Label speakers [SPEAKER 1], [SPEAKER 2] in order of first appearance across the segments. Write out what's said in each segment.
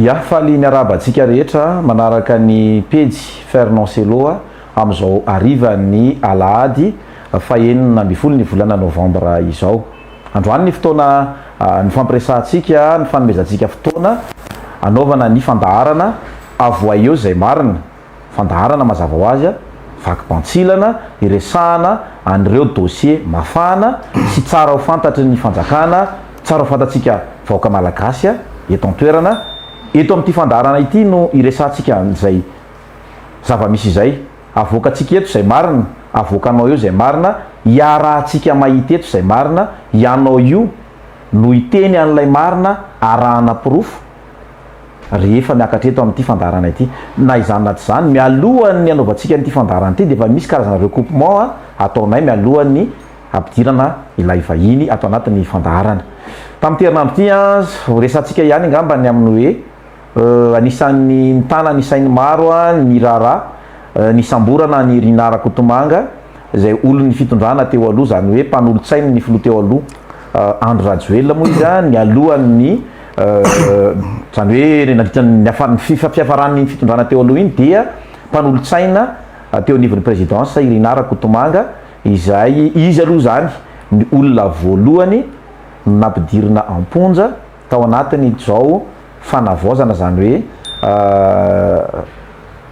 [SPEAKER 1] Ya, faly miarahaba antsika rehetra manaraka ny pejy Fernand Cello amin'izao harivan'ny alahady fahenina ambin'ny folo ny volana novambra izao. Androany ny fotoana nifampiresahantsika, nifanomezantsika fotoana hanaovana ny fandaharana Avohay eo izay marina. Fandaharana mazava ho azy, vaky bantsilana hiresahana an'ireo dosie mafana sy tsara ho fantatry ny fanjakana, tsara ho fantatsika vahoaka malagasy eto an-toerana. Eto amin'ity fandaharana ity no hiresahantsika an'izay zava-misy izay. Avoakantsika eto izay marina, avoakanao eo izay marina, iarahantsika mahita eto izay marina, ianao io no hiteny an'ilay marina arahana porofo rehefa miakatra eto amin'ity fandaharana ity. Na izany na tsy izany, mialohan'ny hanaovantsika an'ity fandaharana ity dia efa misy karazana recoupement ataonay mialohan'ny hampidirana ilay vahiny ato anatin'ny fandaharana. Tamin'ity herinandro ity, ho resahantsika ihany angamba ny amin'ny hoe. Anisan'ny nitana ny sain'ny maro ny raharaha nisamborana an'i Rinah Rakotomanga izay olon'ny fitondrana teo aloha, izany hoe mpanolotsain'ny filoha teo aloha Andry Rajoelina moa izy nialohan'ny izany hoe nandritra ny fiafaran'ny fitondrana teo aloha iny dia mpanolotsaina teo anivon'ny présidence i Rinah Rakotomanga izay izy aloha izany ny olona voalohany nampidirina am-ponja tao anatin'izao fanavaozana, izany hoe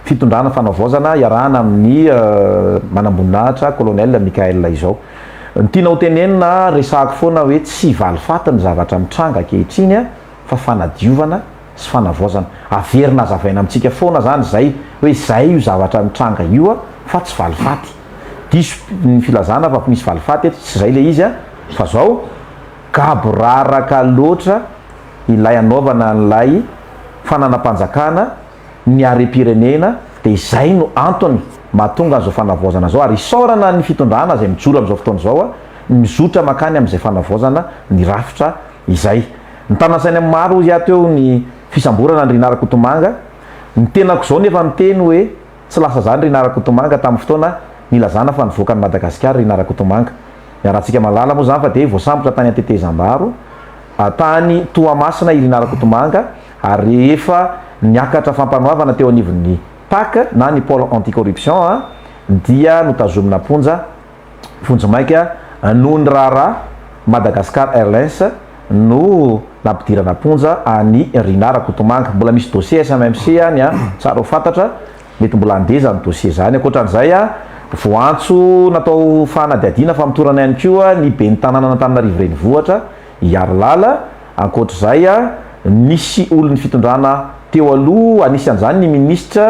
[SPEAKER 1] fitondrana fanavaozana iarahana amin'ny manamboninahitra Colonel Mickaël izao. Ny tiana ho tenenina, resahako foana hoe tsy valifaty ny zavatra mitranga ankehitriny fa fanadiovana sy fanavaozana. Averina azavaina amintsika foana izany izay hoe izay io zavatra mitranga io fa tsy valifaty. Diso ny filazana fa misy valifaty eto, tsy izay ilay izy fa izao, Gaboraraka loatra ilay anaovana an'ilay fananam-panjakana ny harem-pirenena dia izay no antony mahatonga an'izao fanavaozana izao ary isaorana ny fitondrana izay mijoro amin'izao fotoana izao mizotra mankany amin'izay fanavaozana ny rafitra izay. Nitana-tsaina maro hoy aho teo ny fisamborana an'i Rinah Rakotomanga, ny tenako izao nefa miteny hoe. Tsy lasa zany Rinah Rakotomanga tamin'ny fotoana nilazana fa nivoaka an'i Madagasikara Rinah Rakotomanga. Iarahantsika mahalala moa zany fa dia voasambotra tany an-tetezambaro tany Toamasina i Rinah Rakotomanga ary rehefa niakatra fampanoavana teo anivon'ny Pac na ny Pole Anti-Corruption dia notazomina am-ponja vonjimaika noho ny raharaha Madagascar Airlines no nampidirana am-ponja an'i Rinah Rakotomanga. Mbola misy dossier SMMC any an, tsara ho fantatra, mety mbola handeha izany dossier izany. Ankoatran'izay, voantso natao fanadihadiana famotorana ihany koa ny ben'ny tanànan'Antananarivo Renivohitra, i Harilala. Ankoatr'izay, nisy olon'ny fitondrana teo aloha, anisan'izany ny minisitra.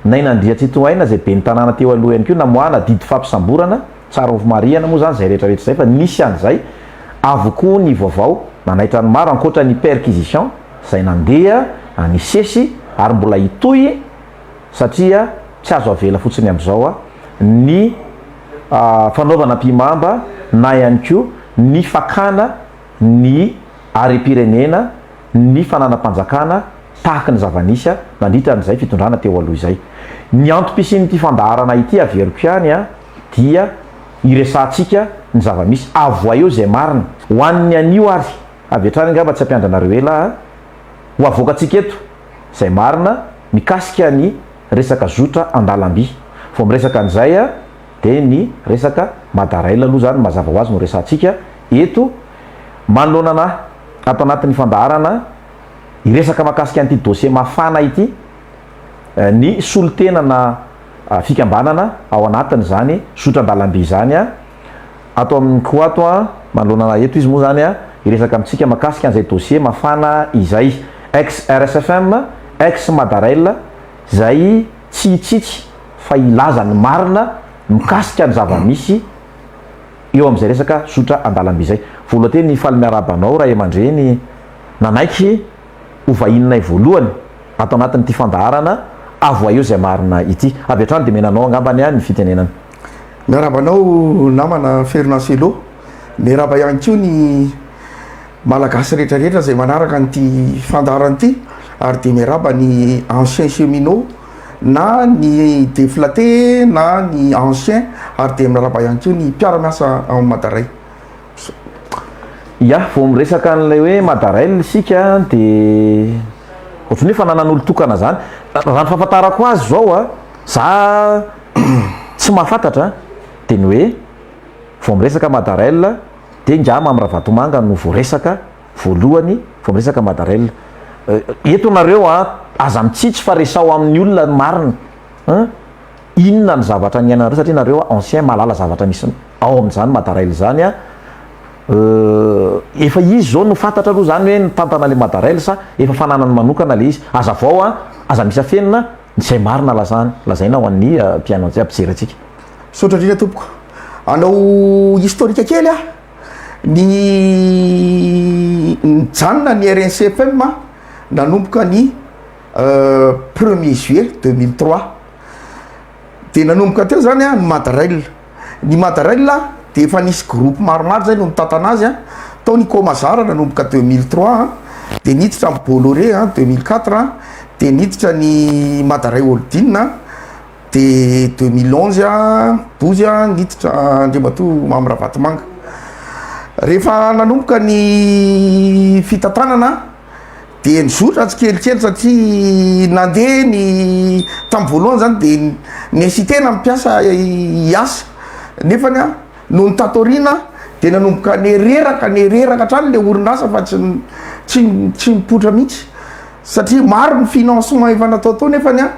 [SPEAKER 1] Naina Andriatsitohaina izay ben'ny tanàna teo aloha ihany koa namoahana didy fampisamborana, tsara ho marihana moa izany izay rehetra rehetra izay fa nisy an'izay avokoa ny vaovao nanaitra ny maro ankoatra ny perquisition izay nandeha any sesy ary mbola hitohy satria tsy azo avela fotsiny amin'izao ny fanaovana ampihimamba na ihany koa ny fakana ny harem-pirenena, ny fananam-panjakana tahaky ny zava-nisy nandritra an'izay fitondrana teo aloha izay. Ny antom-pisian'ity fandaharana ity averiko ihany dia hiresahantsika ny zava-misy, avohay eo izay marina. Ho an'ny anio ary, avy hatrany angamba tsy hampiandry anareo ela aho, ho havoakantsika eto izay marina mikasika ny resaka zotra an-dalamby. Vao miresaka an'izay. dia ny resaka Mada Rail aloha izany mazava ho azy no resahantsika eto manoloana anà ato anatin'ny fandaharana hiresaka mahakasika an'ity dossier mafana ity ny solontenana fikambanana ao anatin'izany zotran-dalamby izany ato amin'ny ko ato an manoloana anà eto izy moa izany an hiresaka amintsika mahakasika an'izay dossier mafana izay ex RSFM ex Mada Rail izay tsy hitsitsy fa hilaza ny marina mikasika ny zava-misy eo amin'izay resaka zotra an-dalamby izay. Voalohany teny hifaly miarahaba anao ray aman-dreny nanaiky ho vahininay voalohany ato anatin'ity fandaharana Avohay eo izay marina ity. Avy hatrany dia menanao angamba ny ny fitenenana. Miarahaba anao
[SPEAKER 2] namana Fernand Cello. Miarahaba ihany koa ny. Malagasy rehetra rehetra izay manaraka an'ity fandaharana ity ary dia miarahaba ny anciens cheminots na ny deflatés na ny anciens ary dia miarahaba ihany koa ny mpiara-miasa ao amin'ny Madarail.
[SPEAKER 1] Ya, vao miresaka an'ilay hoe Madarail isika dia ohatran'ny hoe fananana olon-tokana izany. Raha ny fahafantarako azy izao a, za tsy mahafantatra dia ny hoe vao miresaka Madarail Dia ngah Mamy Ravatomanga no voaresaka voalohany vao miresaka Madarella. Eto nareo a, aza mitsitsy fa resaho amin'ny olona ny marina a. Inona ny zavatra niainanareo satria nareo ancien mahalala zavatra misy ao amin'izany Madarella izany a. Efa izy izao no fantatra aloha izany hoe nitantana ilay Madarella sa efa fananany manokana ilay izy. Hazavao a, aza misy afenina a. Izay marina lazany, lazaina ho an'ny mpihaino jiaby mpijery antsika. Misaotra indrindra tompoko.
[SPEAKER 2] Hanao historique kely aho. Ny nijanona ny rnc-fm nanomboka ny premier juillet deux mille trois. Dia nanomboka teo izany an ny Madrail. ny Madarail dia efa nisy groupe maromaro izay no nitantana azy an, tao ny Comazar nanomboka deux mille trois an, dia niditra ny Bolloré an deux mille quatre an, dia niditra ny Madarail Holding an, dia deux mille onze an douze an niditra Andriamatoa Mamy Ravatomanga. Rehefa nanomboka ny fitantanana. dia nizotra tsikelikely satria nandeha ny tamin'ny voalohany zany dia ni-hesiter-na ny mpiasa hiasa nefany an noho ny tato aoriana dia nanomboka nireraka nireraka hatrany ilay orinasa fa tsy tsy tsy nipoitra mihitsy satria maro ny financement efa natao tao nefany an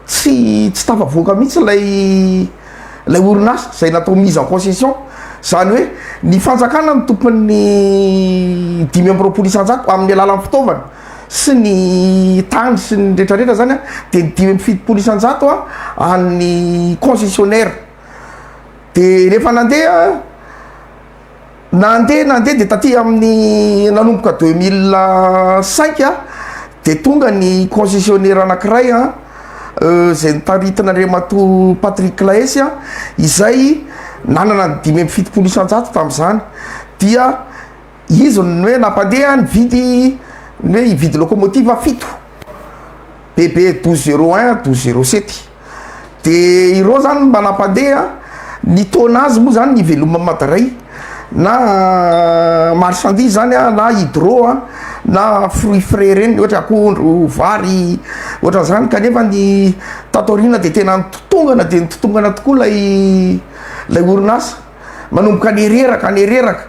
[SPEAKER 2] Tsy tsy tafavoaka mihitsy ilay ilay orinasa izay natao mise en concession, izany hoe ny fanjakana no tompon'ny dimy amby roapolo isan-jato amin'ny alalan'ny fitaovana sy ny tany sy ny rehetra rehetra izany a, dia ny dimy amby fitopolo isan-jato a an'ny concessionnaire, dia rehefa nandeha. Nandeha nandeha dia taty amin'ny nanomboka deux mille cinq a dia tonga ny concessionnaire anankiray a izay notaritin'Andriamatoa Patrick Claes a izay nanana ny dimy amby fitopolo isan-jato tamin'izany dia izy no hoe nampandeha nividy ny hoe hividy locomotive fito BB douze zero un douze zero sept. de ireo zany mba nampandeha ny taona azy moa zany ny veloma madaray na marchandise zany a na hydro a na fruit frais reny ohatra akondro vary ohatran'zany kanefa ny tato aoriana de tena nitotongana de nitotongana tokoa lay lay orinasa manomboka nireraka nireraka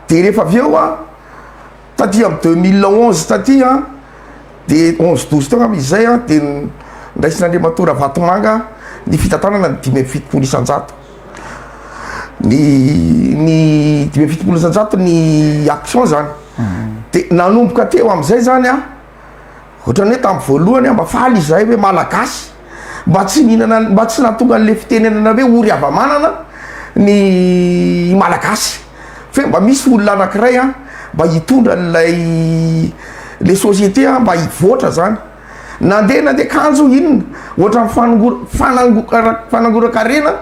[SPEAKER 2] de rehefa avy eo a Taty am deux mille onze taty an de onze douze teo angamba izy zay an de ndraisin'Andriamatoa Ravatomanga ny fitantanana ny dimy amby fitopolo isan-jato ny ny dimy amby fitopolo isan-jato ny action zany de nanomboka teo am'zay zany an Ohatrany hoe tamin'ny voalohany aho mba faly izahay hoe Malagasy mba tsy nihinana mba tsy nahatonga an'ilay fitenenana hoe ory hava-manana ny Malagasy fe mba misy olona anankiray a mba hitondra an'ilay le société a mba hivoatra zany nandeha nandeha kanjo inona ohatrany fanongora fanangora fanangoran-karena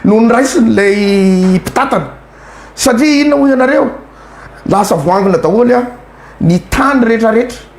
[SPEAKER 2] no niraisin'ilay mpitatana satria inona hoy ianareo lasa voangona daholo a ny tany rehetrarehetra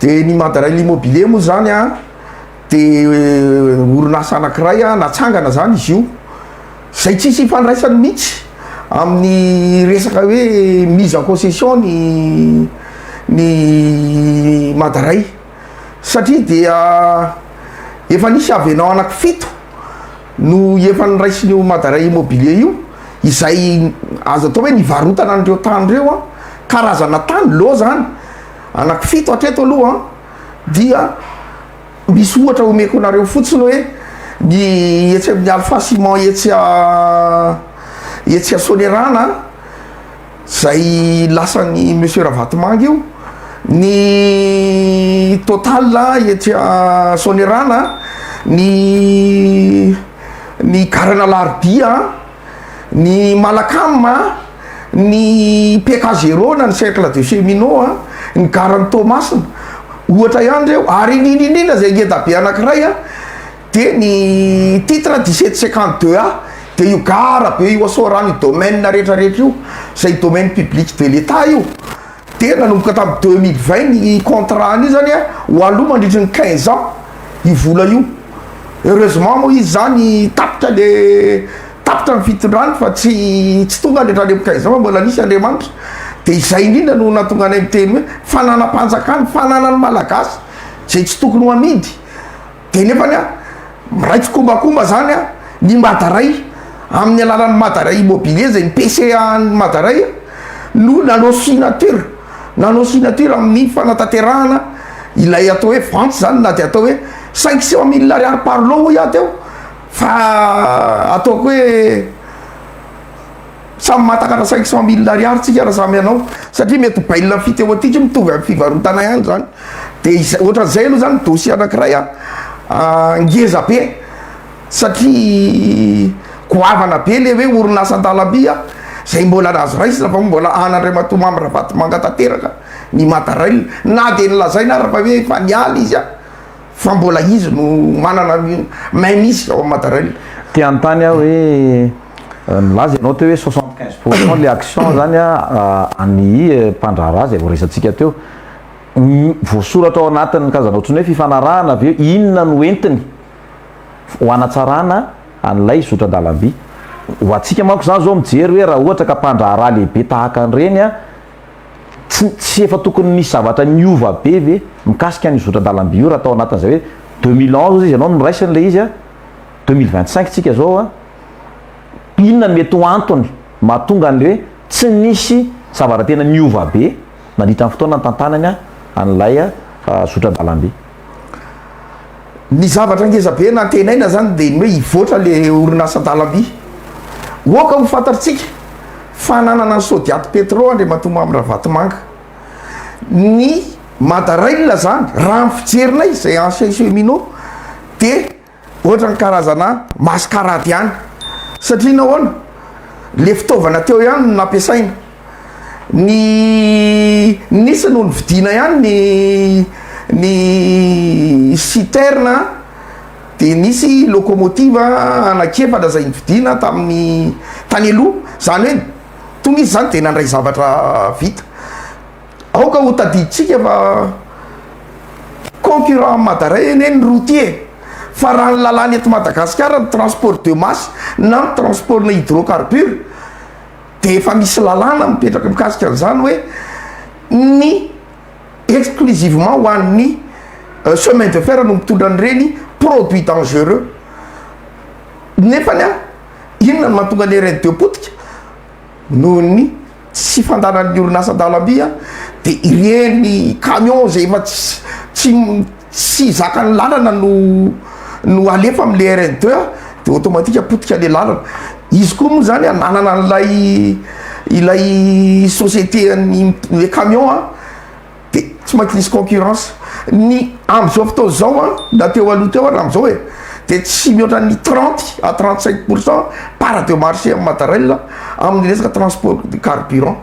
[SPEAKER 2] Dia ny Mandarail Immobilier moa izany an, dia orinasa anankiray an, natsangana izany izy io, izay tsisy ifandraisany mihitsy amin'ny resaka hoe mise en concession ny ny Mandarail satria dia efa nisy avenant anaky fito, no efa noraisin'io Madaray Immobilier io, izay azo atao hoe nivarotana an'ireo tany ireo an, karazana tany lô izany, anaky fito hatreto aloha an, dia misy ohatra homeko anareo fotsiny hoe ny etsy amin'ny Alpha Ciment etsy etsy Soanierana an, Zay lasan'i Monsieur Ravatomanga io, ny Total etsy Soanierana, ny ny Garana Alarobia, ny Malacam a, ny PK Zero na ny Cercle de Cheminot a, ny Garan'i Toamasina, ohatra ihany reo, ary iny iny iny iny aza ngeda be anankiray a. Dia ny titre dix sept cinquante deux A dia io gara be io asoarano io domaine rehetra rehetra io izay domaine public de l'Etat io dia nanomboka tamin'ny deux mille vingt ny contrat an'io izany a ho aloha mandritry ny quinze ans io vola io heureusement moa izy izany tapitra le tapitra ny fitondrany fa tsy tsy tonga any hatramin'ny amin'ny quinze ans fa mbola nisy Andriamanitra dia izay indrindra no nahatonga anay miteny hoe fananam-panjakana fananan'ny Malagasy izay tsy tokony ho amidy de nefany a miray tsikombakomba zany a ny madaray amin'ny alalan'ny madaray immobilier zay ny PCA an'ny madaray a no nanao signature nanao signature amin'ny fanatanterahana ilay atao hoe vente zany na de atao hoe cinq cent mille ariary par lot hoy aho teo fa ataoko hoe Samy mahatakatra cinq cent mille ariary tsika raha samy hanao satria mety ho bail amphithéotique mitovy amin'ny fivarotana ihany zany de izay ohatran'izay aloha zany dossier anakiray a ngeza be satria goavana be le hoe orinasa an-dalamby a zay mbola azo raisina fa mbola an'Andriamatoa Mamy Ravatomanga tanteraka ny mata rail na de nolazaina ary fa hoe efa niala izy a fa mbola izy no manana ny main mise ao amin'ny mata rail. Te hanontany aho
[SPEAKER 1] hoe. Nilaza ianao teo hoe soixante quinze pour cent ilay action izany an'ny mpandraharaha izay voaresantsika teo. Voasoratra ao anatin'ny karazana ohatran'ny hoe fifanarahana ve? Inona no entiny ho hanatsarana an'ilay zotran-dalamby? Ho antsika manko izany izao mijery hoe raha ohatra ka mpandraharaha lehibe tahaka an'ireny, tsy tsy efa tokony nisy zavatra niova be ve mikasika an'io zotran-dalamby io raha tao anatin'izay hoe deux mille onze izy ianao no niraisiny ilay izy? deux mille vingt cinq tsika zao a, inona no mety ho antony mahatonga ny hoe tsy nisy zavatra tena niova be nandritra ny fotoana nitantanany an'ilay zotra-dalambe.
[SPEAKER 2] Ny zavatra ngeza be nantenaina zany dia ny hoe hivoatra le orinasan-dalamby. Oaka ho fantatritsika fa nanana ny Sodiat Petro Andriamatoa Mamy Ravatomanga. Ny Madarail zany raha ny fijerinay zay ancien cheminot dia. Ohatran'ny karazana mascarade ihany satria nahoana? le fitaovana teo ihany no nampiasaina, ny nisy no nividiana ihany ny ny citerne a, dia nisy locomotive anankiefatra izay nividiana tamin'ny tany aloha, izany hoe toa misy izany dia nandray zavatra vita. Aoka ho tadidintsika fa concurrent an'i Madara anie ny routier e! Fa raha ny lalàna eto Madagasikara ny transport de masse na ny transport-na hydrocarbure dia efa misy lalàna mipetraka mikasika an'izany hoe ny exclusivement ho an'ny chemin de fer no mitondra an'ireny produits dangereux nefany an! inona no mahatonga an'ireny dia potika? noho ny tsy fandanan'ny orinasa an-dalamby a de ireny camion zay efa tsy tsy tsy zakan'ny lalana no no alefa amle rn deux de automatique potika le lalana izy koa moa zany ananana an'ilay ilay société an'ny le camion a de tsy maintsy nisy concurrence ny amzao fotoana zao an na teo aloha teo ary amzao e de tsy mihoatra ny trente à trente cinq pour cent part de marché am mattarelle aminy resaka transport de carburant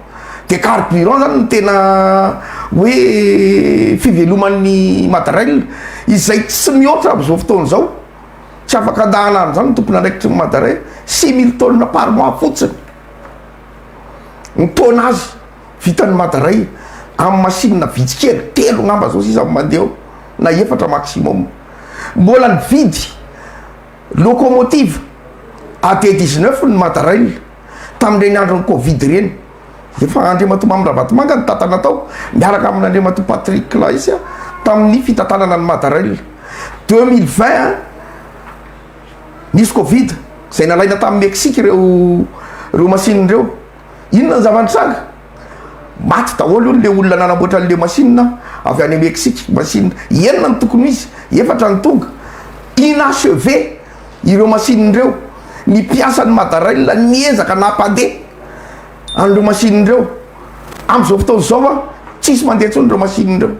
[SPEAKER 2] de carburant zany no tena hoe fiveloman'ny mattarelle izay tsy mihoatra amzao fotoana zao tsy afaka andahana any zany ny tompon andraikitry ny mattarelle six mille tonnes par mois fotsiny ny taona azy vitan'ny madaray amin'ny masinina vitsy kely, telo angamba zao sisa no mandeha ao na efatra maximum, mbola nividy locomotive à de dix neuf ny madarail tamin'ireny andron'ny covid ireny, efa Andriamatoa Mamy Ravatomanga nitantana tao miaraka amin'Andriamatoa Patrick Claes tamin'ny fitantanana ny madarail, deux mille vingt nisy covid izay nalaina tamin'ny Mexique ireo ireo masinina ireo. Inona ny zava-nitranga? Maty daholo hono ilay olona nanamboatra an'ilay masinina avy any Mexique. Masinina enina no tokony ho izy, efatra no tonga. Inachevé ireo masinina ireo. Ny mpiasan'ny Madarail niezaka nampandeha an'ireo masinina ireo. Amin'izao fotoana izao an, tsisy mandeha intsony ireo masinina ireo.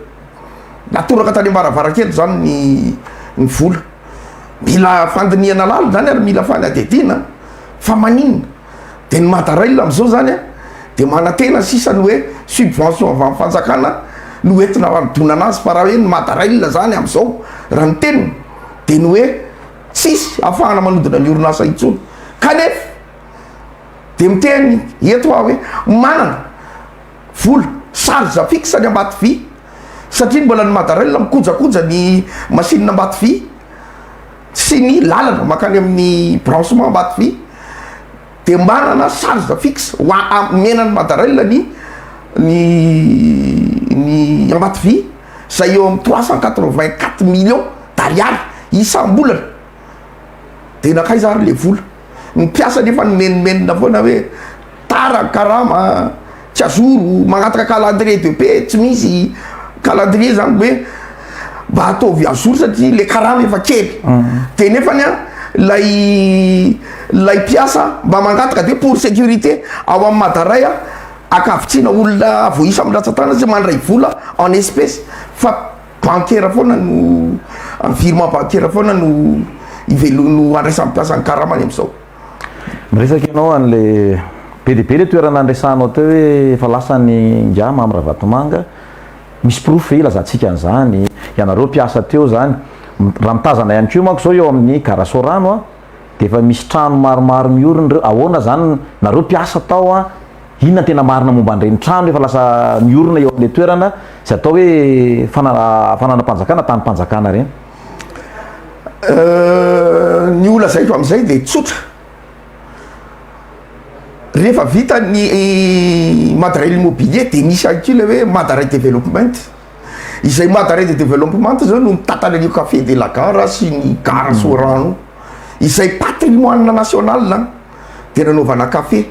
[SPEAKER 2] Natoraka tany am-baravarankely izany ny ny vola. Mila fandinihana lalina izany ary mila fanadihadiana fa maninona? dia ny madarail amzao zany a dia manantena sisa ny hoe subvention avy am fanjakana no entina hanodonana azy fa raha hoe ny madarail zany amzao raha ny teniny dia ny hoe tsisy afahana manodina ny orinasa intsony kanefa dia miteny eto hoa hoe manana vola charge fixe any ambato vy satria mbola ny madarail mikojakoja ny machine ambato vy sy ny lalana mankany amin'ny branchement Ambatovy dia manana charge fixe ho omena an'i Madarail ny ny ny Ambatovy izay eo amin'ny trois cent quatre vingt quatre millions d'ariary isam-bolana dia nankaiza ary ilay vola? Ny mpiasa nefa no menomenona foana hoe tara ny karama a, tsy azoro, magnataka calendrier de paie tsy misy calendrier zany hoe mba ataovy azoro satria le karama efa kely de nefany a lay lay mpiasa mba mangataka de pour sécurité ao amin'ny madaray a akavitsiana olona voaisa amin'ny ratsa-tanana sy mandray vola en espèce fa Bankera foana no, virement bankera foana no ivelo, no andraisan'ny mpiasa ny karama any amin'izao. Miresaka
[SPEAKER 1] ianao an'ilay, be dia be ilay toerana niresahanao teo hoe efa lasa ny ingahy Mamy Ravatomanga, misy porofo ve ilazantsika an'izany? Ianareo mpiasa teo izany, raha mitazana ihany koa manko izao eo amin'ny gara Sorano dia efa misy trano maromaro miorina ireo, ahoana izany, nareo mpiasa tao an! Inona no tena marina momba an'ireny trano efa lasa niorina eo amin'ilay toerana izay atao hoe fananam-panjakana, tanim-panjakana ireny?
[SPEAKER 2] Ny ho lazaiko amin'izay dia tsotra, rehefa vita ny Madarail Immobilier dia misy ihany koa ilay hoe Madarail Development, izay Madarail Development izao no mitantana an'io Café de la Gare sy ny Gara Soarano io, izay patrimoine national an! de nanaovana café,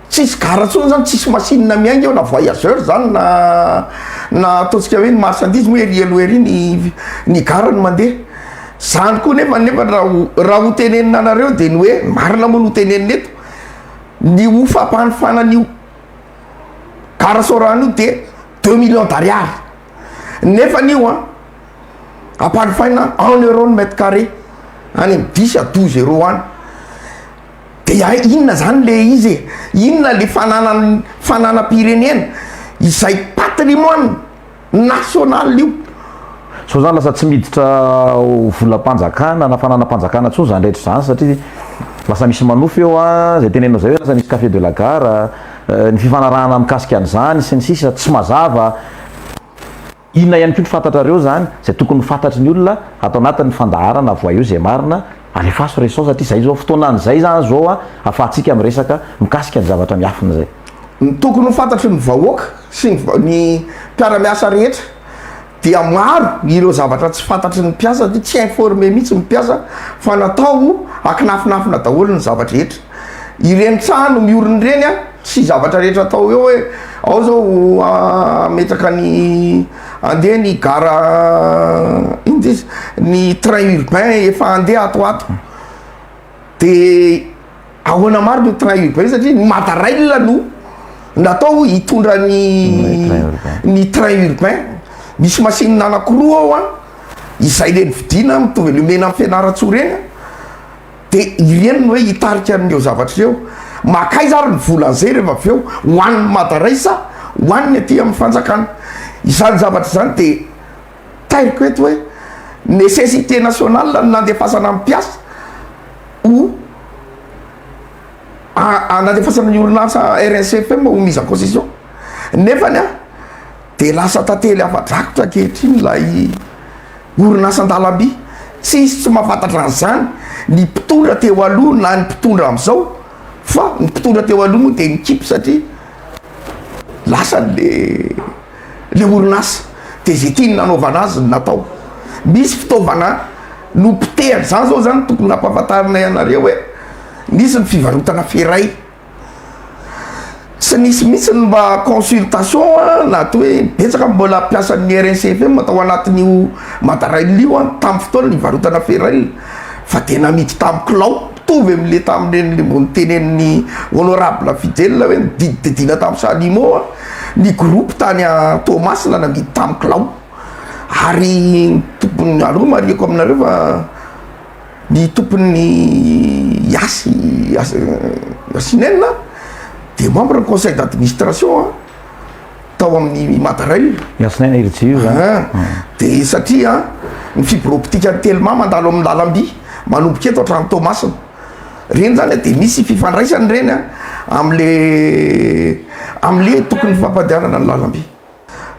[SPEAKER 2] tsisy gara tsony zany tsisy machine miainga eo na voyageur zany na na ataontsika hoe ny marchandise moa ery aloha ery ny ny gara no mandeha, zany koa nefa nefa raha ho raha ho tenenina anareo de ny hoe marina moa no tenenina eto ny ho fampanofana an'io gara sao rano io de deux millions d'ariary nefany io an. Amparifaina en euro ny mètre carré any amin'ny dix à douze euro any. Dia inona zany le izy e? Inona le fananan'ny fananam-pirenena? Izay patrimoine national io. Sao zany
[SPEAKER 1] lasa tsy miditra volam-panjakana na fananam-panjakana intsony zany rehetra zany satria lasa misy manofy eo a, zay tenenao zay hoe lasa misy café de la gare, ny fifanarahana mikasika an'izany sy ny sisa tsy mazava. Inona ihany koa no fantatrareo izany izay tokony ho fantatry ny olona ato anatin ny fandaharana avoaio izay marina alefaso re sao satria izay izao fotoanan izay izany izao afahantsika miresaka mikasika ny zavatra miafina izay. Ny tokony ho
[SPEAKER 2] fantatry ny vahoaka sy ny ny mpiaramiasa rehetra dia maro ireo zavatra tsy fantatry ny mpiasa satria tsy informer mihitsy ny mpiasa fa natao ho akinafinafina daholo ny zava-drehetra. Ireny trano miorina ireny a! Tsy zavatra rehetra atao hoe hoe ao zao hametraka ny andeha ny gara inona ty izy ny train urbain efa andeha ato ho ato de ahoana marina io train urbain io satria ny mata rail no natao hitondra ny ny train urbain misy machine anakiroa ao an izay le nividiana mitovy le omena an'i fianarantsoa reny an. De i reny no hoe hitarika an'ireo zavatra ireo, makaiza ary ny vola zay rehefa avy eo ho an'ny mada ray sa ho an'ny aty amin'ny fanjakana? Izany zavatra izany de tairiko eto hoe nécessité nationale ny nandefasana ny mpiasa ho a nandefasana ny orinasa RSFM ho mise en concession nefany a. Dia lasa tantely afa-drakotra ankehitriny ilay orinasan-dalamby. Tsisy tsy mahafantatra an'izany ny mpitondra teo aloha na ny mpitondra amin'izao fa ny mpitondra teo aloha moa dia nikipy satria lasa le le orinasa dia izay tiany nanaovana azy no natao. Misy fitaovana nopotehana, izany izao izany tokony hampahafantarina ianareo hoe nisy ny fivarotana feray. Tsy nisy mihitsy ny mba consultation na atao hoe betsaka ny mbola mpiasan'ny RSFM tao anatin'io Madarail io an, tamin'ny fotoana nivarotana ferraille fa dia namidy tamin'ny kilao mitovy amin'ilay tamin'ireny mbola notenenin'ny honorable Fijel hoe nodidididina tamin'ny salimo an, ny groupe tany Toamasina namidy tamin'ny kilao ary ny tompony, aleo marihiko aminareo fa. Ny tompon'ny Yasi Yassinen dia membre ny conseil d'administration tao amin'ny Madarail. Yassinen Irji io
[SPEAKER 1] izany. Ah,
[SPEAKER 2] dia satria ny fibre optique-n'i Telma mandalo amin'ny lalam-by manomboka eto hatrany Toamasina. Ireny izany dia misy fifandraisany ireny amin'ilay amin'ilay tokony hifampandehanana ny lalam-by.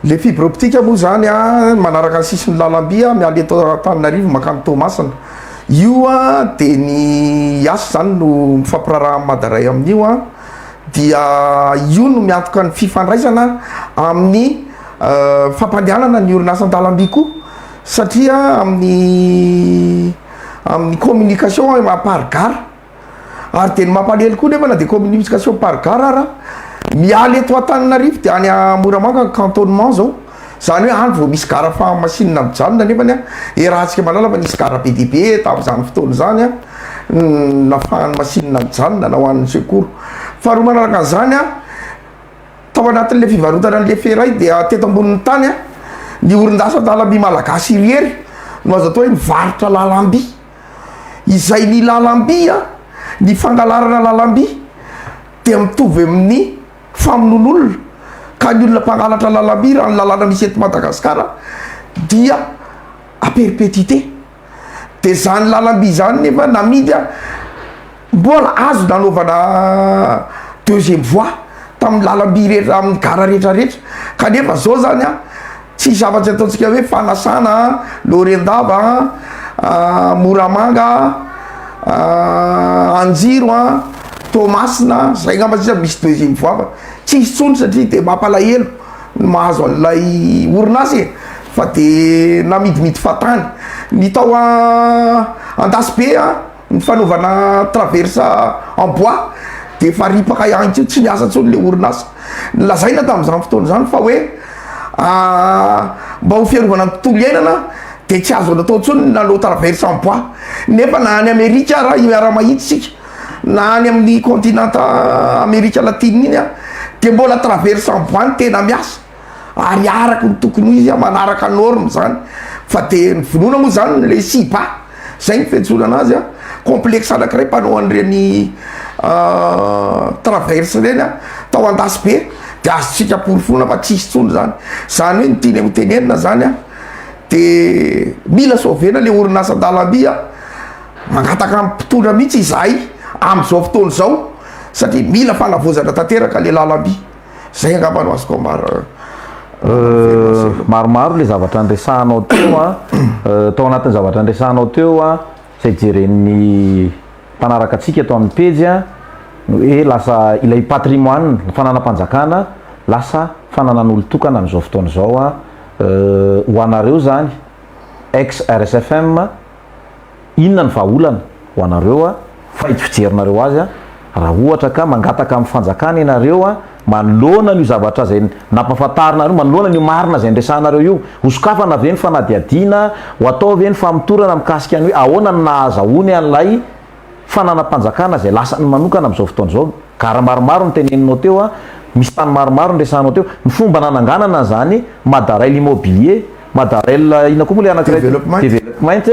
[SPEAKER 2] Le fibre optique moa zany a manaraka ny sisin'ny lalamby a miala eto Antananarivo mankany Toamasina io a de ny yas zany no mifampiraraha amin'ny madaray amin'io a dia io no miantoka ny fifandraisana amin'ny fampandehanana ny orinasan-dalamby koa satria amin'ny amin'ny communication à part gare Ary dia ny mampalahelo koa nefa na dia communication par gare ara, miala eto Antananarivo dia any Moramanga ny cantonnement zao, zany hoe any vao misy gara fahamasinina mijanona nefany an, iarahantsika mahalala fa nisy gara be dia be tamin'izany fotoana izany an, nafahan'ny masinina mijanona na ho an'ny secours. Faharoa manaraka an'izany an, tao anatin'ilay fivarotana an'ilay feray dia teto ambonin'ny tany an, ny orin'asa an-dalamby malagasy irery no azo atao hoe mivarotra lalamby. izay ny lalamby a, ny fangalarana lalamby dia mitovy amin'ny famonoan'olona ka ny olona mpangalatra lalamby raha ny lalàna misy eto Madagasikara dia à perpétuité dia izany lalamby izany nefa namidy a. Mbola azo nanaovana deuxième voie tamin'ny lalamby rehetra amin'ny gara rehetra rehetra kanefa zao zany an tsisy afatsy ataontsika hoe fanasana an, Laorendava an, Moramanga an, Anjiro an, Toamasina an, zay ngamba sisa misy deuxième voie fa tsisy tsony satria dia mampalahelo ny mahazo an'ilay orinasa e, fa dia namidimidy fahatany, ny tao an Andasibe an. Ny fanaovana traversa en bois dia efa ripaka ihany koa, tsy miasa intsony ilay orinasa. Nolazaina tamin'izany fotoana izany fa hoe mba ho fiarovana ny tontolo iainana dia tsy azo natao intsony ny nanao traversa en bois. Nefa na any Amerika ara miara-mahita isika, na any amin'ny continent Amerika Latina iny dia mbola traversa en bois no tena miasa. ary araky ny tokony ho izy manaraka norme zany fa de ny vonoana moa zany le siba zay ny fiantsoana anazy a complexe anakiray mpanao an'ireny traverse ireny a tao andasy be de azotsika amporofoana fa tsisy tsony zany zany hoe ny tiany ho tenenina zany a de mila sovena le orinasa an-dalamby a mangataka am mpitondra mihitsy izahay am'zao fotoana zao satria mila fanavaozana tanteraka le lalamby zay angamba no azoko amar
[SPEAKER 1] maromaro le zavatra andresahanao teo a tao anatin'ny zavatra andresahanao teo a zay jeren'ny mpanaraka antsika ato amin'ny pejy a no hoe lasa ilay patrimoine ny fananam-panjakana lasa fananan'olon-tokana amin'izao fotoana izao a ho anareo zany ex rsfm Inona no vahaolana ho anareo faidy fijerinareo azy raha ohatra ka mangataka amin'ny fanjakana ianareo manoloana an'io zavatra izay nampahafantarinareo, manoloana an'io marina izay niresahanareo io? Hosokafana ve ny fanadihadiana? Ho atao ve ny famotorana mikasika ny hoe ahoana no nahazahoany an'ilay fananam-panjakana izay lasany manokana amin'izao fotoana izao. Gara maromaro no teneninao teo, misy tany maromaro no resahanao teo. Ny fomba nananganana an'izany, Madarail Immobilier, Madarail inona koa moa ilay anankiray teo? Development. Development,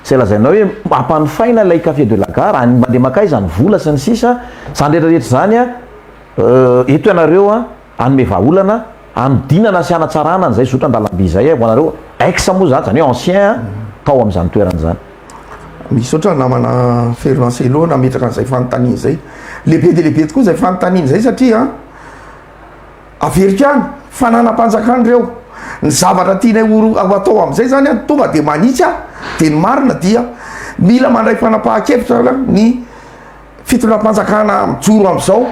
[SPEAKER 1] izay lazainao hoe hampanofaina ilay café de la gare, any mandeha mankaiza ny vola sy ny sisa, izany rehetra rehetra izany, eto ianareo. Hanome vahaolana hanodinana sy hanatsarana an'izay zotra-dalamby izay ho anareo ex moa izany, izany hoe ancien tao amin'izany toerana izany. Misaotra
[SPEAKER 2] namana Fero Lancelot nametraka an'izay fanontaniana izay. Lehibe dia lehibe tokoa izay fanontaniana izay satria averiko ihany, fananam-panjakana ireo, ny zavatra tianay ho atao amin'izay izany tonga dia manitsy aho dia ny marina dia mila mandray fanapahan-kevitra ny Fitondram-panjakana mijoro amin'izao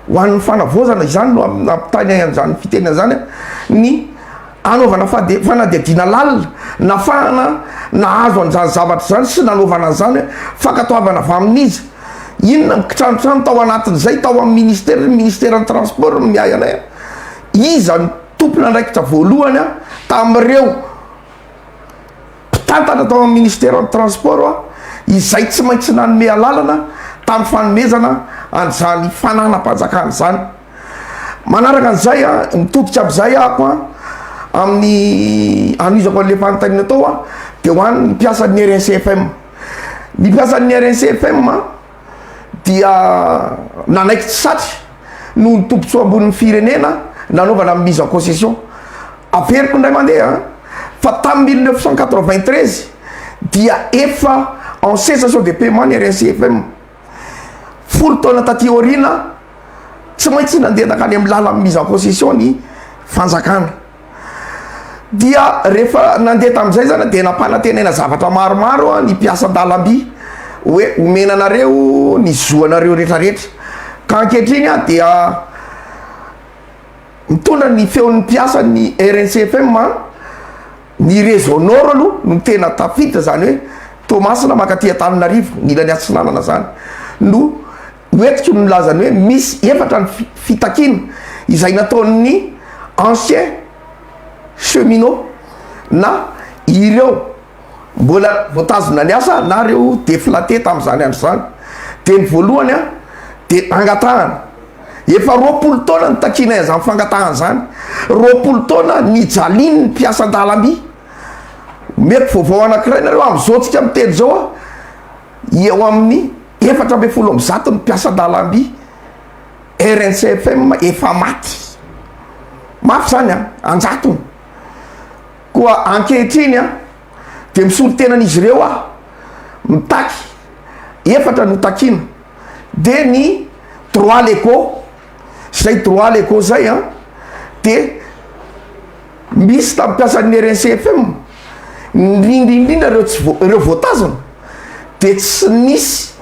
[SPEAKER 2] ho an'ny fanavaozana, izany no ampitahaina an'izany fitenenana izany, ny hanaovana fanadihadiana lalina, nafahana nahazo an'izany zavatra izany sy nanaovana an'izany hoe fankatoavana avy amin'iza, inona ny kitranotrano tao anatin'izay, tao amin'ny Ministera, ny Ministeran'ny Transport no miahy anay, iza no tompon'andraikitra voalohany tamin'ireo. Mpitantana tao amin'ny Ministeran'ny Transport izay tsy maintsy nanome alalana tamin'ny fanomezana an'izany fananam-panjakana izany. Manaraka an'izay, mitodika amin'izay aho amin'ny hanohizako an'ilay fanontaniana tao dia ho an'ny mpiasan'ny RNCFM. Ny mpiasan'ny RNCFM. dia nanaiky tsy satry noho ny tombotsoa ambonin'ny firenena nanaovana ny mise en concession. Averiko indray mandeha fa tamin'ny mille neuf cent quatre-vingt-treize dia efa en cessation de paiement ny RSIFM. Folo taona taty aoriana tsy maintsy nandeha nankany amin'ny lalan'ny mise en concession ny fanjakana. Dia rehefa nandeha tamin'izay zany dia nampanantenaina zavatra maromaro ny mpiasa an-dalamby hoe omena anareo ny zo anareo retraretra ka ankehitriny aho dia mitondra ny feon'ny mpiasa ny RNCFM a ny réseau Nord aloha no tena tafiditra zany hoe Toamasina mankaty Antananarivo ny ilany atsinanana zany no Ho etiky ny milaza ny hoe misy efatra ny fitakiana izay nataon'ny anciens cheminots na ireo mbola voatazona niasa na ireo deflatés tamin'izany andro izany. Dia ny voalohany an, dia angatahana. Efa roapolo taona no takianay an'izany fangatahana izany. Roapolo taona nijalian'ny mpiasan-dalamby. Omeko vaovao anankiray nareo amin'izao tsika miteny izao an. Eo amin'ny efatra ambin'ny folo amin'ny zato ny mpiasan-dalamby RNCFM efa maty. Mafy izany an! An-jatony. Koa ankehitriny an, dia misolo tena an'izy ireo aho, mitaky, efatra no takiana, dia ny droit légaux, izay droit légaux izay an, dia Misy tamin'ny mpiasan'ny RNCFM, indrindra indrindra ireo tsy vo- ireo voatazana, dia tsy nisy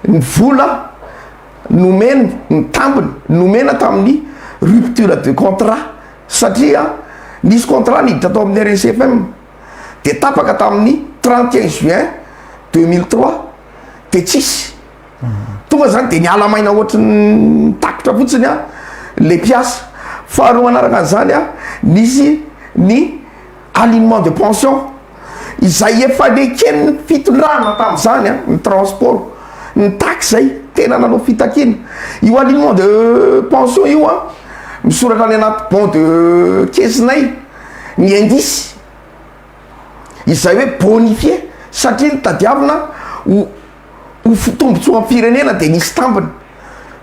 [SPEAKER 2] ny vola nomeny, ny tambiny nomena tamin'ny rupture de contrat, satria nisy contrat niditra tao amin'ny RNCFM dia tapaka tamin'ny 31 juin 2003 dia tsisy. tonga zany de miala maina ohatry ny takitra fotsiny a le mpiasa faharoa manaraka an'izany a misy ny alignement de pension izay efa neken'ny fitondrana tamin'izany a ny transport ny taxe zay tena nanao fitakiana io alignement de pension io a misoratra any anaty bon de kesinay ny indice izay hoe bonifier satria ny tadiavina ho ho fitombontsoam-pirenena dia nisy tambiny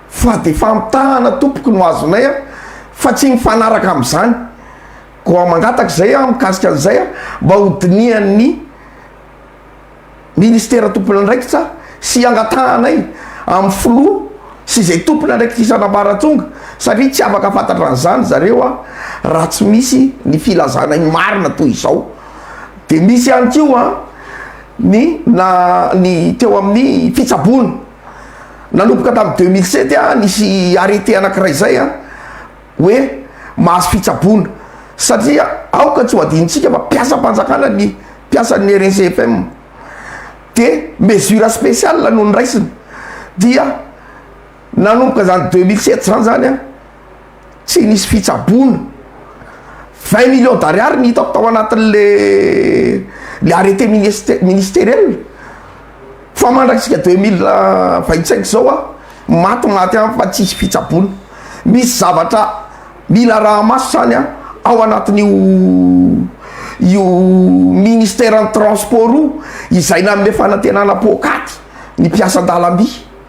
[SPEAKER 2] fa dia famitahana tompoko no azonay a, fa tsy mifanaraka amin'izany, koa mangataka izay aho mikasika an'izay a, mba ho dinihan'ny ministera tompon'andraikitra sy hangatahanay amin'ny filoha sy izay tompon'andraikitra isan'ambaratonga satria tsy afaka fantatra an'izany zareo a, raha tsy misy ny filazanay marina toy izao dia misy ihany koa a, ny na ny teo amin'ny fitsaboana nanomboka tamin'ny deux mille sept a nisy arrete anankiray izay a hoe mahazo fitsaboana satria aoka tsy ho adinontsika fa mpiasam-panjakana ny mpiasan'ny RNCFM de mesure spéciale no niraisina dia nanomboka izany deux mille sept izany zany a Tsy nisy fitsaboana. Vingt millions d'ariary no hitako tao anatin'le le arrêté ministe- ministeriel. Fa mandratsika deux mille vingt cinq izao aho maty maty any fa tsisy fitsaboana. Misy zavatra mila araha-maso zany an ao anatin'io io ministeran'ny transport io izay nanome fanantenana poakaty ny mpiasa an-dalamby.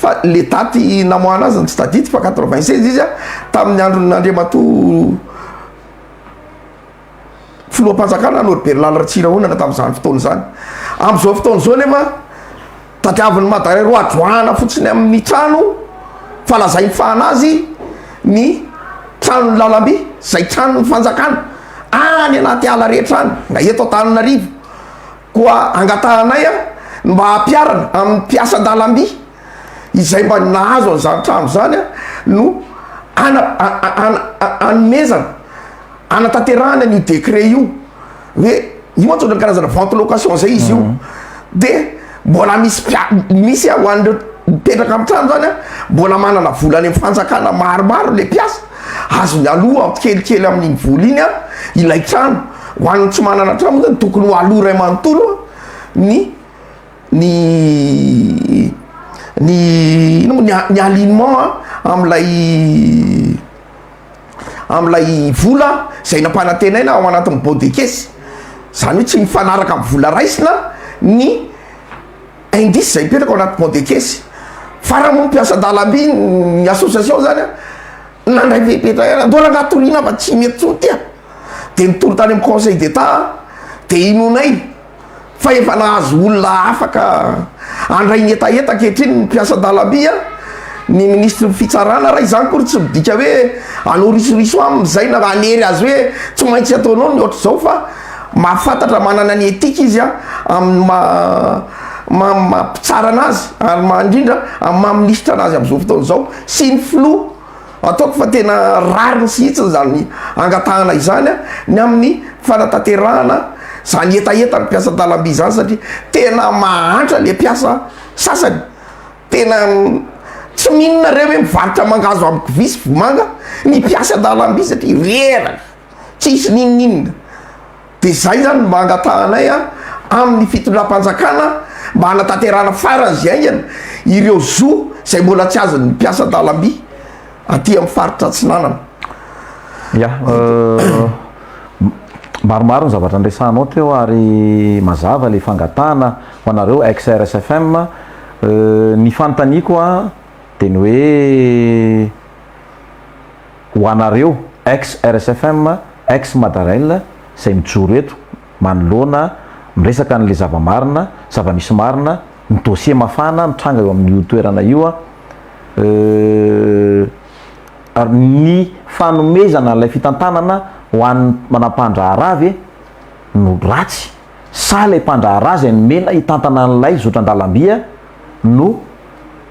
[SPEAKER 2] Fa le daty namoahana azy no tsy tadidiko fa quatre vingt seize izy a, tamin'ny andron' Andriamatoa Filoham-panjakana Norbert Lala Ratsirahonana tamin'izany fotoana izany. Amin'izao fotoana izao nefa tadiavin'ny Madare roa adroahana fotsiny amin'ny trano fa lazainy fa an'azy ny tranon'ny lalamby izay tranon'ny fanjakana any anaty ala rehetra any na eto Antananarivo. Koa angatahanay ny mba hampiharana amin'ny mpiasan-dalamby izay mba nahazo an'izany trano izany no hana hanomezana hanatanterahana an'io décret io hoe io antsoina ny karazana vente location izay izy io dia mbola misy mpia- misy hoan'ireo mipetraka amin'ny trano izany mbola manana vola any amin'ny fanjakana maromaro ilay mpiasa Azony aloha ampy kelikely amin'iny vola iny ilay trano. Ho an'ny tsy manana trano moa zany tokony ho aloha iray manontolo ny ny ny ino moa ny a- ny alignement amin'ilay amin'ilay vola izay nampanantenaina ao anatin'ny bôdekesy. Izany hoe tsy mifanaraka amin'ny vola raisina ny. Indice izay mipetraka ao anaty pont-de-caisse. Fa raha moa mpiasa an-dalamby ny association izany an, nandray fepetra ihany, andao rangaha toriana fa tsy mety intsony ity an. Dia nitory tany amin'ny conseil d'Etat aho, dia inoanay fa efa nahazo olona afaka handray ny hetaheta ankehitriny ny mpiasa an-dalamby an, ny ministry ny fitsarana, raha izany akory tsy midika hoe hanao risoriso aminy izay na hanery azy hoe tsy maintsy ataonao ny ohatr'izao fa. Mahafantatra manana ny etika izy amin' ny maha mpitsara anazy ary maha indrindra amin'ny maha minisitra anazy amin'izao fotoana izao sy ny filoha. Ataoko fa tena rariny sihitsiny izany angatahana izany ny amin'ny fanatanterahana izany hetaheta ny mpiasa an-dalamby izany satria tena mahantra ilay mpiasa sasany. Tena tsy mino nareo hoe mivarotra mangahazo amiko vy sy vomanga ny mpiasa an-dalamby satria reraka. Tsisy n'inon'inona. Dia izay zany mba angatahanay a, amin'ny fitondram-panjakana mba hanatanterahana farany izay haingana ireo zo izay mbola tsy azon'ny mpiasa an-dalamby aty amin'ny faritra Atsinanana.
[SPEAKER 1] Ya, maromaro ny zavatra niresahanao teo ary mazava ilay fangatahana ho anareo ex RSFM. Ny fanontaniako a, dia ny hoe Ho anareo ex RSFM, ex Madarail izay mijoro eto manoloana miresaka an'ilay zava-marina, zava-misy marina, ny dossier mafana mitranga eo amin'io toerana io a, euh, ny fanomezana ilay fitantanana ho an'ny manampahandraharaha ve no ratsy sa ilay mpandraharaha izay nomena hitantana an'ilay zotran-dalamby no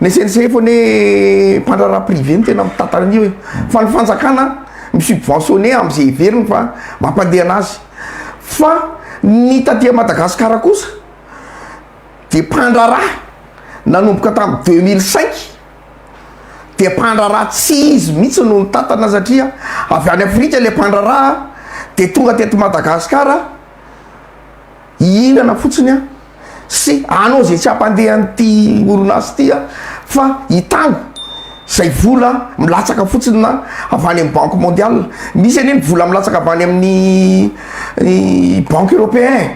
[SPEAKER 2] ny CNCF hono hoe mpandraharaha privé no tena mitantana an'io e, fa ny fanjakana mi-subventionner amin'izay heveriny fa mampandeha an'azy, fa ny taty Madagasikara kosa dia mpandraharaha nanomboka tamin'ny deux mille cinq dia mpandraharaha tsy izy mihitsy no nitantana satria avy any Afrika ilay mpandraharaha dia tonga teto Madagasikara, Hihinana fotsiny aho sy hanao izay tsy hampandeha an'ity orinasa ity aho fa hitango izay vola milatsaka fotsiny na avy any amin'ny Banque Mondiale. Misy anie ny vola milatsaka avy any amin'ny Banque Européen.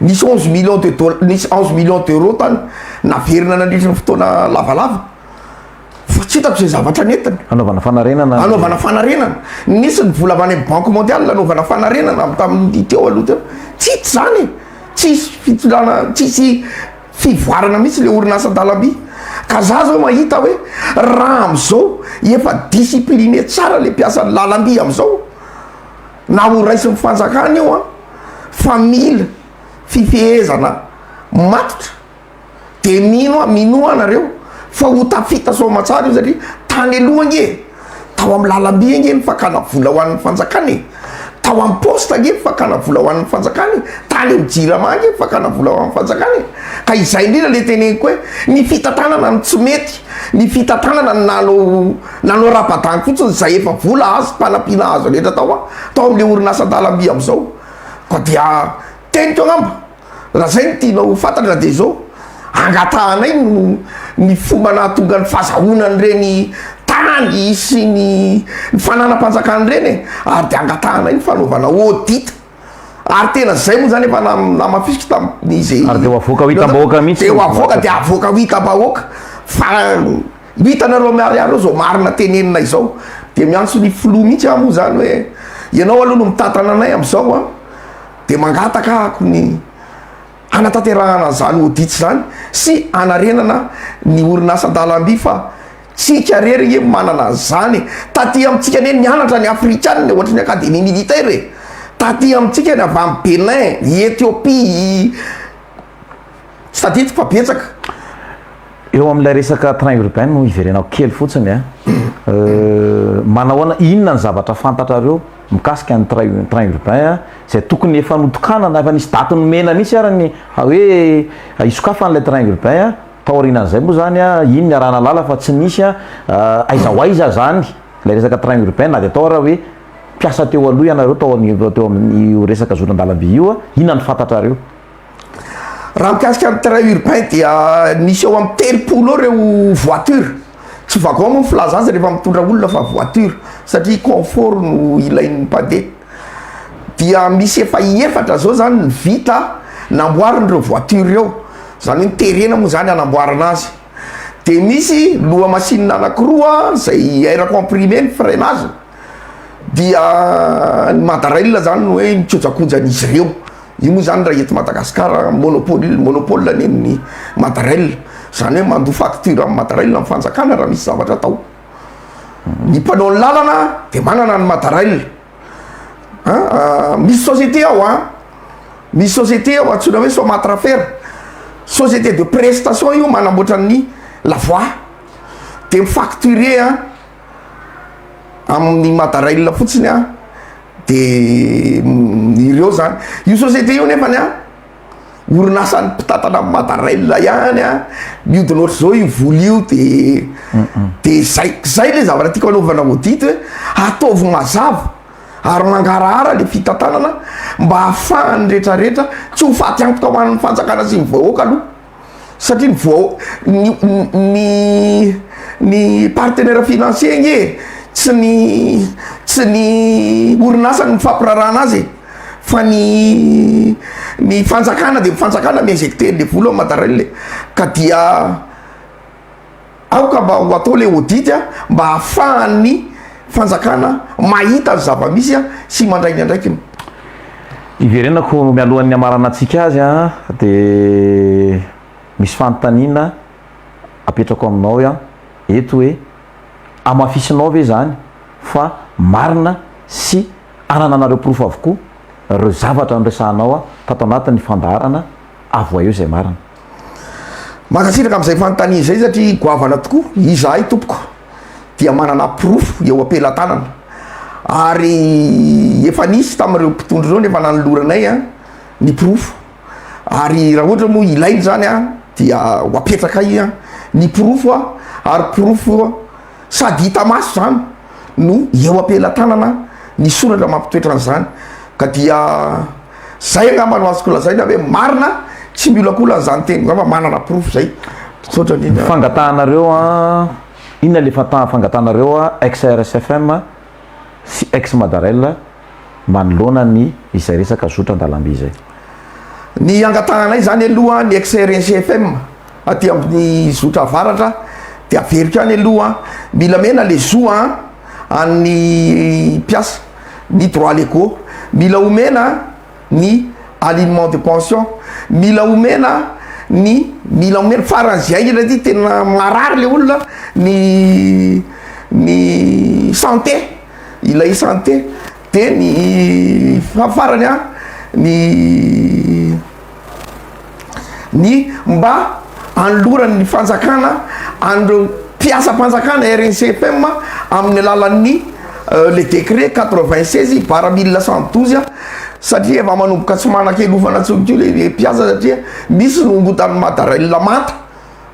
[SPEAKER 2] Nisy onze millions de dola- nisy onze millions d'euros tany naverina nandritra ny fotoana lavalava. fa tsy hitako izay zavatra nentiny. Hanaovana fanarenana.
[SPEAKER 1] Hanaovana fanarenana. Nisy ny
[SPEAKER 2] vola avy any amin'ny Banque mondiale hanaovana fanarenana avy tamin'ny teo aloha teo. Tsitsy izany e! Tsisy fitondrana, tsisy fivoarana mihitsy ilay orinasa an-dalamby. Ka za zao mahita hoe raha amin'izao efa discipline tsara ilay mpiasan'ny lalamby amin'izao, na ho raisin'ny fanjakana io an, fa mila fifehezana matotra. de mino aho mino aho nareo fa ho tafita soa aman-tsara io satria tany aloha ange e tao amin'ny lalamby ange ny fakana vola ho an'ny fanjakana e tao amin'ny poste ange ny fakana vola ho an'ny fanjakana e tany amin'ny jirama ange ny fakana vola ho an'ny fanjakana e ka izay indrindra le teneniko hoe ny fitantanana no tsy mety ny fitantanana no nanao nanao rabadany fotsiny izay efa vola azo mpanampiana azo rehetra tao an tao amin'le orinasan-dalamby am'zao koa dia teniko angamba Raha zay no tianao ho fantatra dia izao, angatahanay no ny fomba nahatonga ny fazahoana an'ireny tany sy ny ny fananam-panjakana ireny e! ary dia angatahanay ny fanaovana audit ary tena zay moa zany efa namafisiko tamin'izy Ary dia ho avoaka ho
[SPEAKER 1] hitam-bahoaka mihitsy dia ho avoaka dia avoaka
[SPEAKER 2] ho hitam-bahoaka fa io hitanareo miharihary eo izao marina tenenina izao dia miantso ny filoha mihitsy aho moa zany hoe ianao aloha no mitantana anay amin'izao an! dia mangataka ahako ny hanatanterahana izany audit izany sy hanarenana ny orinasa an-dalamby fa tsika irery nge manana an'izany e! taty amintsika anie nianatra ny afrikanina e! ohatry ny academie militaire e! taty amintsika ny avy any Benin, i Ethiopie, i. Tsy tadidiko fa betsaka.
[SPEAKER 1] Eo amin'ilay resaka train urbain no hiverenako kely fotsiny a. Euh, manahoana, inona ny zavatra fantatrareo mikasika ny train train urbain a, izay tokony efa notokanana, efa nisy daty nomena mihitsy ary ny fa hoe hisokafana ilay train urbain a, taorianan'izay moa zany a, iny ny arahan'Alala fa tsy nisy a, euh, aiza ho aiza zany ilay resaka train urbain na dia atao ary hoe mpiasa teo aloha ianareo tao amin'ny teo amin'io resaka zotra an-dalamby io a, inona ny fantatrareo?
[SPEAKER 2] Raha mikasika ny train urbain dia misy eo amin'ny telopolo eo ireo voiture, tsy wagon moa ny filaza azy rehefa mitondra olona fa voiture satria confort no ilain'ny mpandeha, dia misy efa efatra zao zany ny vita namboarin'ireo voiture ireo, zany hoe terena moa zany hanamboarana azy, de misy lohamasinina anakiroa zay air comprimé ny freinage. dia ny madarail zany no hoe mikojakoja an'izy ireo, io moa zany raha eto Madagasikara monopole monopole anie ny madarail, zany hoe mandoa facture amin'ny madarail ny fanjakana raha misy zavatra atao, ny mpanao ny lalana de manana ny madarail an, misy société ao an, misy société ao antsoina hoe somatrafer, société de prestation io manamboatra ny la voie de mi-facturer an. amin'ny madarail fotsiny a de ireo zany io société io nefany a orinasan'ny mpitatana amin'ny madarail ihany a miodina ohatr'izao io vola io de de zay zay le zavatra tiako anaovana audit hoe ataovy mazava ary mangarahara le fitantanana mba ahafahan'ny retraretra tsy ho faty antoka ho an'ny fanjakana sy ny vahoaka aloha satria ny vao ny ny ny partenaire financier ange tsy ny tsy ny orinasa no mifampirarahana azy e fa ny ny fanjakana de ny fanjakana mi-injecter le vola ao Madarail e ka dia aoka mba ho atao le audit a, mba ahafahan'ny fanjakana mahita ny zava-misy a sy mandray ny andraikiny.
[SPEAKER 1] Hiverenako mialohan'ny hamarana antsika azy a, de misy fanontaniana apetrako aminao a, eto hoe hamafisinao ve zany fa marina sy anananareo porofo avokoa reo zavatra niresahanao a tato anatin'ny fandaharana, avoaeo zay marina.
[SPEAKER 2] Mankasitraka amin'izay fanontaniana izay satria goavana tokoa. Izahay tompoko dia manana porofo eo am-pelatanana ary efa nisy tamin'ireo mpitondra ireo no efa nanoloranay ny porofo ary raha ohatra moa ilaina izany dia ho apetrakay ny porofo ary porofo sady hita maso izany no eo am-pelatanana ny soratra mampitoetra an'izany ka dia zay angamba no azoko lazaina hoe marina tsy miolakolana izany teniko izany fa manana porofo izay misaotra indrindra ny
[SPEAKER 1] fangatahanareo an inona le fanta fangatahanareo an ex RSFM sy ex Madarel manoloana ny izay resaka zotra an-dalamby izay? Ny
[SPEAKER 2] angatahanay izany aloha ny ex RSFM. Aty ambony zotra avaratra de averiko any aloha mila mena le zo a an'ny mpiasa ny droit legaux mila omena ny alignement de pension mila omena ny mila omena faran'izay indrindra aty tena marary le olona ny ny santé ilay santé Dia ny farany an, ny ny mba anoloran'ny fanjakana an'ireo mpiasam-panjakana RNCPM amin'ny alalan'ny le décret quatre vingt seize barra mille neuf cent douze an, satria efa manomboka tsy manan-kelofana intsony koa le mpiasa satria misy no otan'ny madarelina manta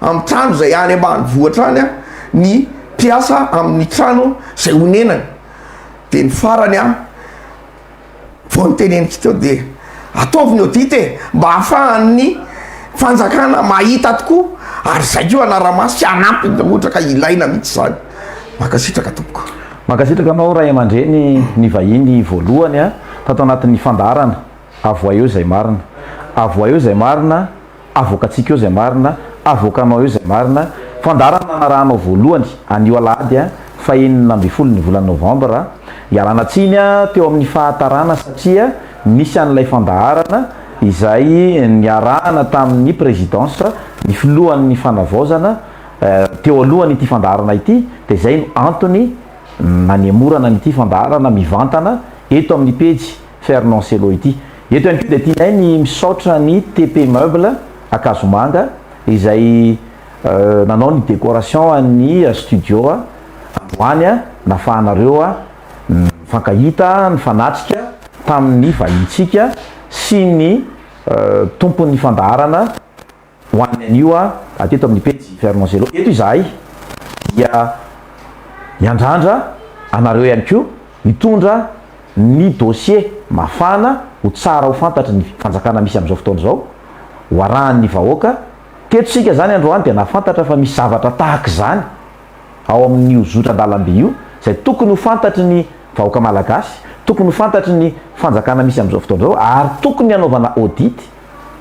[SPEAKER 2] amin'ny trano izay any ambanivohitra any an, ny mpiasa amin'ny trano izay onenany. Dia ny farany an, vao noteneniko teo dia ataovy ny audit e, mba hahafahan'ny fanjakana mahita tokoa ary izay koa hanara-maso sy hanampy ny olona ka ilaina mihitsy izany. Mankasitraka tompoko. Mankasitraka anao ray
[SPEAKER 1] aman-dreny nivahiny voalohany tato anatin'ny fandaharana. Avohay eo izay marina. Avohay eo izay marina. Avoakantsika eo izay marina, avoakanao eo izay marina. Fandaharana nanarahanao voalohany anio alahady faha enina ambin'ny folo ny volana novambra. Ialana tsiny teo amin'ny fahatarana satria nisy an'ilay fandaharana izay niarahana tamin'ny Présidence, ny filohan'ny fanavaozana, teo alohan'ity fandaharana ity dia izay no antony nanemorana an'ity fandaharana mivantana eto amin'ny pejy Fernand Cello ity. Eto ihany koa dia tianay ny misaotra ny TP Meuble Ankazomanga izay nanao ny décoration an'ny studio androany nafahanareo nifankahita, nifanatrika tamin'ny vahintsika sy ny tompon'ny fandaharana Ho an'ny anio a, ateto amin'ny pejy Fernand Zelo eto izahay dia miandrandra anareo ihany koa hitondra ny dossier mafana ho tsara ho fantatry ny fanjakana misy amin'izao fotoana izao, ho arahan'ny vahoaka. Teto isika izany androany dia nahafantatra fa misy zavatra tahaka izany ao amin'io zotran-dalamby io izay tokony ho fantatry ny vahoaka malagasy, tokony ho fantatry ny fanjakana misy amin'izao fotoana izao ary tokony hanaovana audit.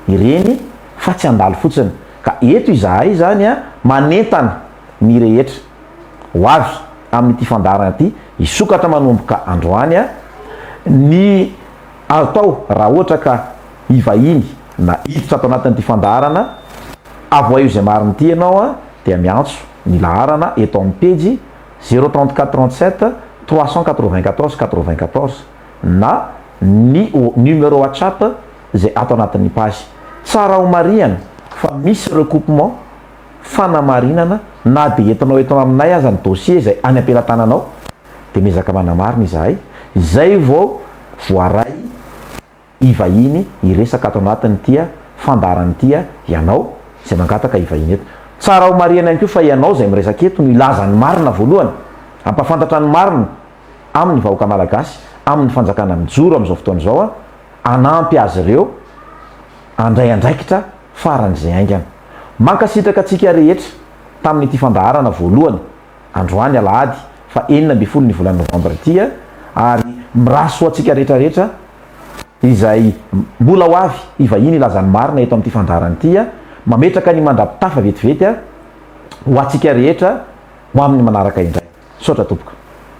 [SPEAKER 1] ireny fa tsy handalo fotsiny ka eto izahay izany a manentana ny rehetra ho avy amin'ity fandaharana ity hisokatra manomboka androany a ny atao raha ohatra ka hivahiny na hiditra ato anatin'ity fandaharana avoaio izay marina ity ianao a dia miantso ny laharana eto amin'ny pejy zero trente quatre trente sept trois cent quatre vingt quatorze quatre vingt quatorze. na ny numéro WhatsApp izay ato anatin'ny page. Tsara homarihana fa misy recoupement, fanamarinana, na dia entinao eto aminay aza ny dossier izay any am-pelatananao dia miezaka manamarina izahay izay vao voaray. hivahiny hiresaka ato anatin'ity fandaharana ity ianao izay mangataka hivahiny eto. Tsara homarihina ihany koa fa ianao izay miresaka eto no hilaza ny marina voalohany, hampafantatra ny marina amin'ny vahoaka malagasy, amin'ny fanjakana mijoro amin'izao fotoana izao, hanampy azy ireo handray andraikitra faran'izay haingana. Mankasitraka antsika rehetra tamin'ity fandaharana voalohany. androany alahady faha enina ambin'ny folo ny volana novambra ity ary mirary soa antsika rehetra rehetra izay mbola ho avy hivahiny hilaza ny marina eto amin'ity fandaharana ity mametraka ny mandrapitafa vetivety ho antsika rehetra ho amin'ny manaraka indray misaotra tompoko